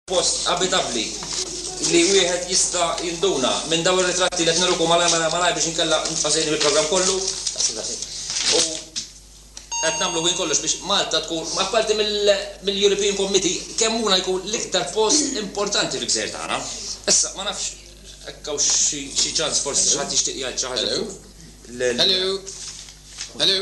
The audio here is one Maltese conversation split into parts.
post abitabbli li wieħed jista' jinduna minn dawn ir-ritratti li qed nirukom malajr malajr malajr biex inkella nibqa' sejrin bil-programm kollu. U qed nagħmlu minn kollox biex Malta tkun, apparti mill-European Committee, kemm huna jkun l-iktar post importanti fil-gżejjer tagħna. Issa, ma nafx hekk hawn xi ċans forsi xi ħadd jixtieq jgħid xi ħaġa fuq. Hello. Hello.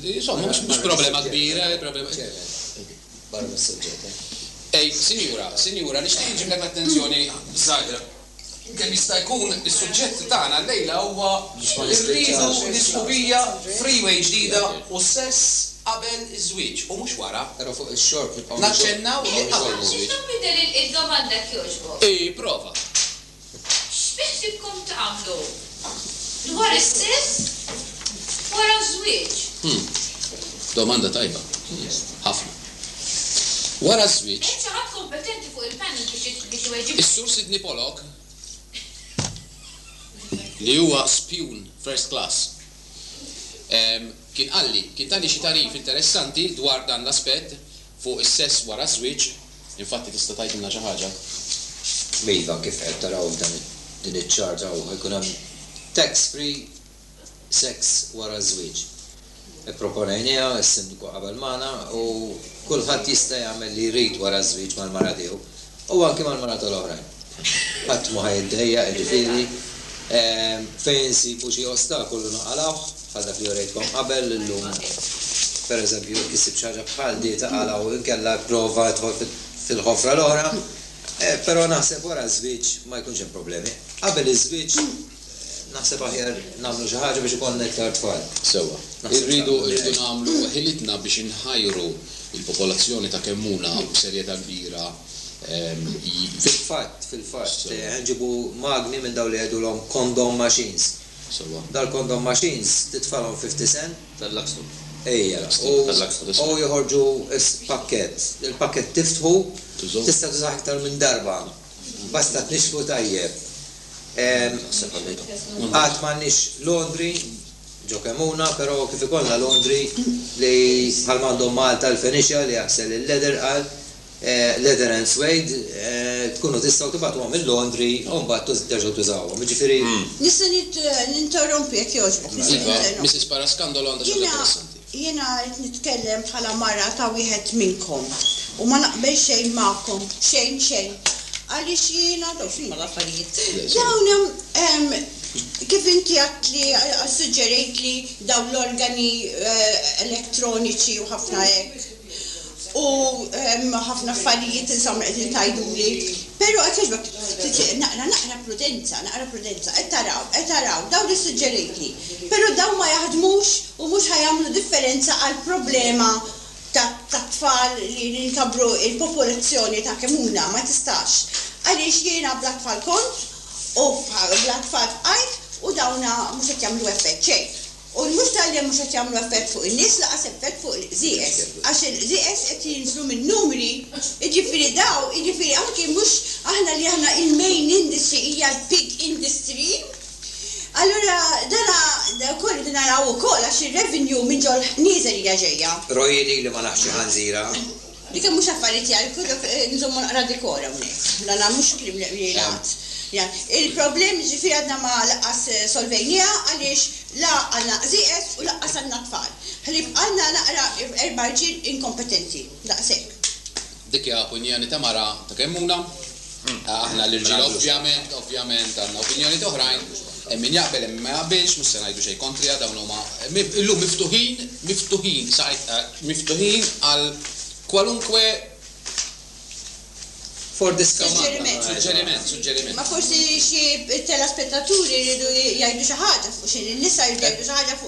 Insomma, mhux mhux problema kbira, problema. Barra mis-suġġett, eh? Ej, sinjura, sinjura, nixtieq inġiblek l-attenzjoni żgħira. Kemm jista' jkun is-suġġett tagħna llejla huwa rridu l-isħubija freeway ġdida u s-sess qabel iż-żwieġ u mhux wara. Però fuq ix-xorb nibqgħu. Naċċennaw li qabel iż-żwieġ. Tista' tbiddel il-domanda jekk jogħġbok? Ipprova. X'bint fihkom tagħmlu dwar is-sess wara ż-żwieġ? Hm. Domanda tajba. Ħafna. Wara ż-żwieġ. Hemm xi ħadd kompetenti fuq il-panel biex iweġibni? Is-Sur Sidney Pollock, li huwa spjun first class, kien qalli, kien tani xi tagħrif interessanti dwar dan l-aspett fuq is-sess wara ż-żwieġ. Infatti tista' tgħidilna xi ħaġa? Iva, kif qed taraw f'dan din iċ-chart hawn ħajkun hemm tax free sex wara ż-żwieġ. Ipproponejnieha, is-Sindku qabel magħna u kulħadd jista' jagħmel li jrid wara ż-żwieġ mal-mara tiegħu u anki mal-mara tal-oħrajn. Ħadd mhu ħajiddejjaq jiġifieri fejn insibu xi ostakolu naqalgħuh. Bħal dak li urejtkom qabel, illum pereżempju jekk issib xi ħaġa bħal di taqalgħa u inkella ipprova idħol fil-ħofra l-oħra. Però naħseb wara ż-żwieġ ma jkunx hemm problemi. Qabel iż-żwieġ naħseb aħjar nagħmlu xi ħaġa biex ikollna iktar tfal. Sewwa. Irridu nagħmlu ħilitna biex inħajru l-popolazzjoni ta' Kemmuna b'serjetà kbira. Fil-fatt, fil-fatt, ħa nġibu magni minn dawn li jgħidulhom condom machines. Sewwa. Dal-condom machines titfalhom fi ftisen? Tal-Luxtube. Ejja. L-ipstick tal-Luxtube iswed. U joħorġu s-pakkett. Il-pakkett tiftħu, tista' tużah iktar minn darba. Basta tnixxfu tajjeb. Taħseb għalija. Għad m'għandniex laundry ġo Kemmuna, però kif ikollna laundry li bħalma għandhom Malta l-Fenicia li jaħsel il-leather għal. Leather and suede tkunu tistgħu tibgħatuhom il-laundry u mbagħad terġgħu tużawhom. Jiġifieri. Nista' ninterrompi jekk jogħġbok, nista' ninterrompi. Iva, Mrs. Parascandolo għandha xi ħaġa interessanti. Jiena qed nitkellem bħala mara ta' wieħed minnkom u ma naqbel xejn magħkom, xejn, xejn. Għaliex jiena, dawn x'inhuma l-affarijiet? Dawn hemm, kif inti għedt li, ssuġġerejt li dawn l-organi elettroniċi u ħafna hekk. U hemm ħafna affarijiet insomma qegħdin tgħiduli. Però qed jogħġbok ftit naqra naqra prudenza, naqra prudenza. Qed taraw, qed taraw, dawn li ssuġġerejtli. Però dawn ma jaħdmux u mhux ħa jagħmlu differenza għall-problema tat-tfal li li nkabbru l-popolazzjoni ta' kemm huna, ma tistax. Għaliex jiena bla tfal kont u bla tfal bqajt u dawn mhux qed jagħmlu effett xejn. U mhux talli mhux qed jagħmlu effett fuq in-nies lanqas effett fuq il-qżieqeż, għax il-qżieqeż qed jinżlu min-numri, jiġifieri daw, jiġifieri anki mhux aħna li aħna il-main industry hija l-pig industry. Allura dana wkoll irridu naraw ukoll għax ir-revenue minn ġol nieżel hija ġejja. Roy jidhirli ma nafx xi ħanżira. Dik hemm mhux affarijiet jgħid, però nżommu naqra dikor hawnhekk. Dan ha mhux kliem li jingħad. Il-problemi ġifieri għadna ma lanqas solvejnieha għaliex la għandna qżieqeż u lanqas għandna tfal. Ħalli jibqgħalna naqra erba' rġiel inkompetenti. Daqshekk. Dik hija opinjoni ta' mara ta' Kemmuna. Aħna l-irġiel ovvjament, ovvjament għandna opinjonijiet oħrajn, hemm min jaqbel hemm min ma jaqbilx, mhux se ngħidu xejn kontriha, dawn huma illum miftuħin, miftuħin sa miftuħin għal kwalunkwe for discussion. Suġġeriment. Suġġeriment, suġġeriment. Ma forsi xi telespettaturi jridu jgħidu xi ħaġa fuq xi nisa jridu jgħidu xi ħaġa fuq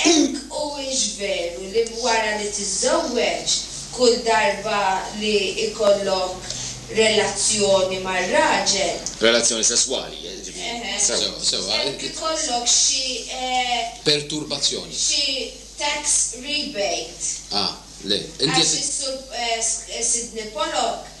Hekk huwiex veru li wara li tiżżewweġ, kull darba li jkollok relazzjoni ma' raġel. Relazzjoni sesswali, jiġifieri. Sewwa, sewwa. Hekk ikollok xi. Perturbazzjoni. Xi tax rebate. Ah, le. Inti qed. Għax is-Sur Sidney Pollock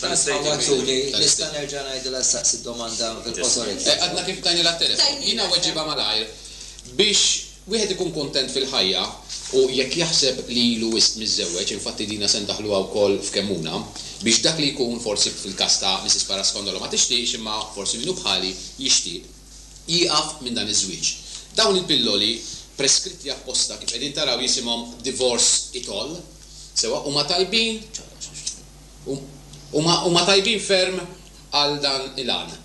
L-istate Huwa Agreement Ġuli, tal-Istate. nista' nerġa' ngħidilha ssaqsi d-domanda fil-qosor jekk jogħġbok? Għadna kif tajnilha t-telefon. Jiena weġibha malajr. Biex wieħed ikun kuntent fil-ħajja u jekk jaħseb li ilu wisq miżżewweġ, infatti dina se ndaħħluha wkoll f'Kemmuna, biex dak li jkun, forsi fil-każ ta' Missis Parascondolo ma tixtieqx imma forsi min hu bħali jixtieq, jieqaf minn dan iż-żwieġ. Dawn il-pilloli preskritti apposta kif qegħdin taraw jisimhom Divorce It All, sewwa huma tajbin, Huma huma tajbin ferm għal dan il-għan.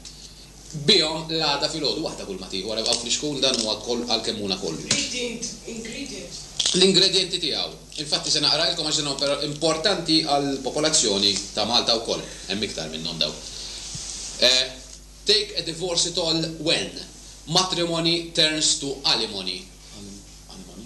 Bihom l-għada filgħodu waħda kulma tieħu, ara hawn flixkun dan huwa koll għalkemm hu na kollu. Read int ingredient. L-ingredjenti tiegħu. Infatti se naqralkom għax dan huwa importanti għall-popolazzjoni ta' Malta wkoll. Hemm iktar minnhom dawn. Take a divorce it all when, matrimony turns to alimony. Alimony?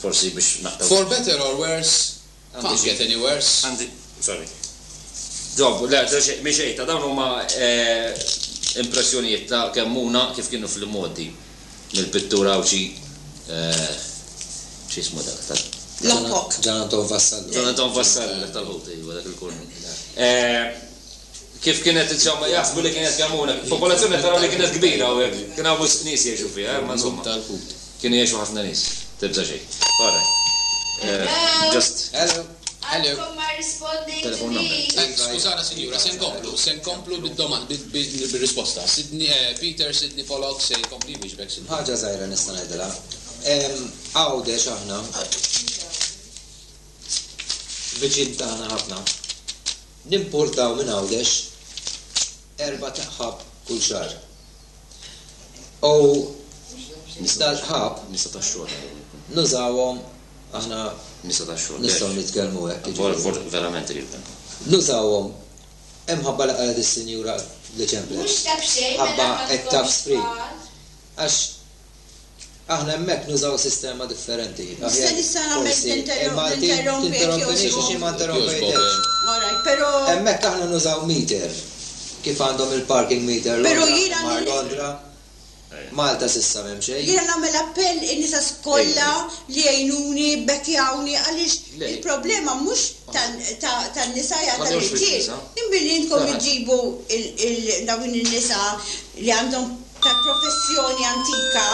Forsi biex naqtgħu. For better or worse, can't get any worse. Għandi, sorry. Ġobbu, le, mhi xejn ta' dawn huma impressjonijiet ta' Kemmuna kif kienu fl-imgħoddi mill-pittur Għawdxi x'ismu dak ta' Locke. John Anton Vassallo. John Anton Vassallo, dak tal-ħut, iva, dak il-kornu. kif kienet insomma jaħsbu li kienet kemm hawn hekk. Popolazzjoni qed taraw li kienet kbira hawn hekk, kien hawn wisq nies jgħixu fiha, imma insomma. Grupp tal-Ħut. Kienu jgħixu ħafna nies. Tibża' xejn. Ora. Hello. Just. Hello. Hello. Għadkom ma rrispondejtux. Telephone number. Skużana sinjura, se nkomplu, se nkomplu bid-domand, bir-risposta. Sidni, Peter, Sidni Polok, se jkompli jwieġbek sinjura. Ħaġa żgħira nista' ngħidilha. Għawdex aħna. Viċin tagħna ħafna. Nimpurtaw minn Għawdex erba' taqħab kull xahar. U Nisa tax-xogħol. Nisa tax-xogħol. Nużawhom aħna. Nisa tax-xogħol. Nistgħu nitkellmu hekk. Jiġifieri. Verament irid dan. Nużawhom imħabba li qalet is-Sinjura li ċemplet. Mhux ta' b'xejn. Ħabba qed taf spri. Għax. Aħna hemmhekk nużaw sistema differenti. Nista' nista' nagħmel tinterrompek jogħġbok. Ma nterrompejtekx. Alright, però. Hemmhekk aħna nużaw meter. Kif għandhom il-parking meter ma' Londra. Malta s'issa m'hemm xejn. Jiena nagħmel appell lin-nisa kollha li jgħinuni, bbekkjawni għaliex il-problema mhux tan-nisa hija tal-irġiel. Imma li intkom iġġibu dawn in-nisa li għandhom tal-professjoni antika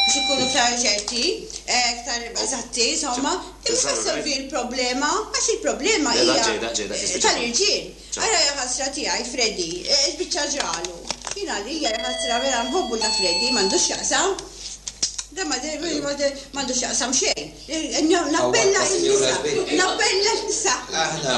biex inkunu iktar ċerti, eh, iktar eżatti, insomma, imma solvi l-problema, għax il-problema hija tal-irġiel. Ara ħasra tiegħi Freddy, eh, biċċa ġralu. Jina li hija ħasra vera nħobbu ta' Freddy, m'għandux jaqsam. Da ma m'għandux jaqsam xejn. Eh, nappella n-nisa, nappella n-nisa. Aħna.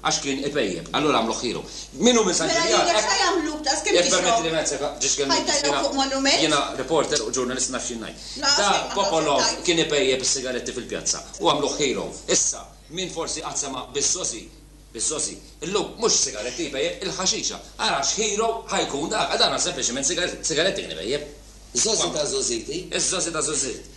Għax kien ipejjep. Allura għamluh ħieru. Min hu minn San Ġiljan? Mela lilek ħajagħmluk daqs kemm tixrob. Jekk tpermettili wieħed sekond, ġiex kellimni. Ħajtajlok fuq monument? Jiena reporter u ġurnalist naf x'jien ngħid. Da Popolov kien ipejjep is-sigaretti fil-pjazza u għamluh ħieru. Issa, min forsi qatt sema' biż-żożi, biż-żożi, illum mhux is-sigaretti jpejjep, il-ħaxixa. Ara x'ħieru ħa jkun dak. Għal daqstant sempliċiment sigaretti kien ipejjep. Żożi ta' żożiti. Iż-żożi ta' żożit.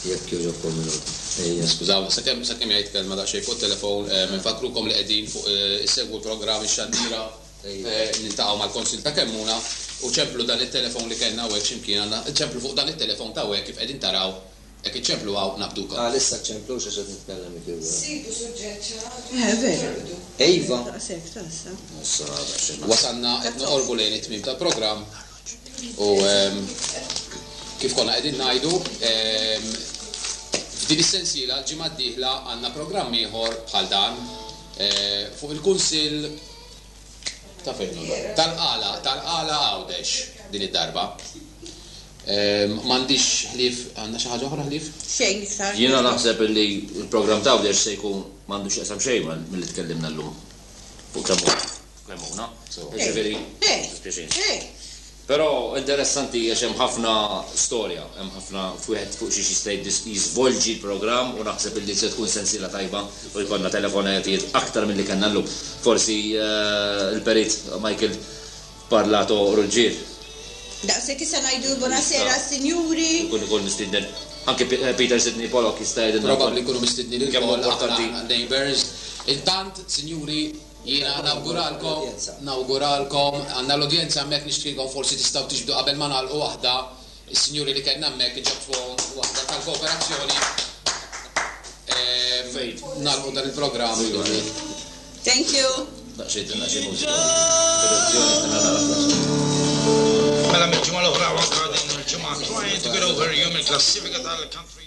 Jekk jogħġobkom minuta. Ejja. Skużawni, sakemm sakemm jgħid kelma daqsxejn fuq it-telefon, infakkrukom li qegħdin fuq issegwu l-programm Ix-Xandira, niltaqgħu mal-Konsil ta' Kemmuna u ċemplu dan it-telefon li kellna hawnhekk xi mkien għandna, ċemplu fuq dan it-telefon ta' hawnhekk kif qegħdin taraw, jekk iċċemplu hawn naqbdukom. Għalissa ċċemplux għax qed nitkellem it u. Sibu suġġett xi ħaġa biex naqbdu. Iva. Daqshekk ta' issa. Wasalna qed noqorbu lejn it-tmiem tal-programm. U kif konna qegħdin ngħidu, f'din is-sensiela l-ġimgħa d-dieħla għandna programm ieħor bħal dan fuq il-Kunsill ta' fejn hi? Tal-Qala, tal-Qala Għawdex din id-darba. M'għandix ħlief, għandna xi ħaġa oħra ħlief? Xejn iktar. Jiena naħseb illi l-programm t'Għawdex se jkun m'għandu x'jaqsam xejn ma' milli tkellimna llum fuq kemm hu. Memuna, so, jiġifieri, dispiaċini. Però interessanti għax hemm ħafna storja, hemm ħafna f'wieħed fuq xiex jista' jiżvolġi l-programm u naħseb illi se tkun sensiela tajba u jkollna telefonatijiet aktar milli kellna llum. Forsi l-Perit Michael Parlato Ruggier. Daqshekk issa ngħidu Bunasera Sinjuri. Ikun ukoll mistieden. Anke Peter Sidney Pollock jista' jgħidilna. Probabbli jkunu mistednin ukoll għall-Neighbours. Intant, Sinjuri, Jiena nawguralkom, nawguralkom, għandna l-udjenza hemmhekk nixtieqkom forsi tistgħu tiġbdu qabel ma nagħlqu waħda, is-sinjuri li kellna hemmhekk iġabbfuhom waħda tal-kooperazzjoni fejn nagħlqu dan il-programm illum. Thank you. Daqsxejn tinqas xi mużika. Produzzjoni se nagħlaqha fl-aħħar. Mela mill-ġimgħa l-oħra u anke din il-ġimgħa trying to get over you mill-klassifika tal-country.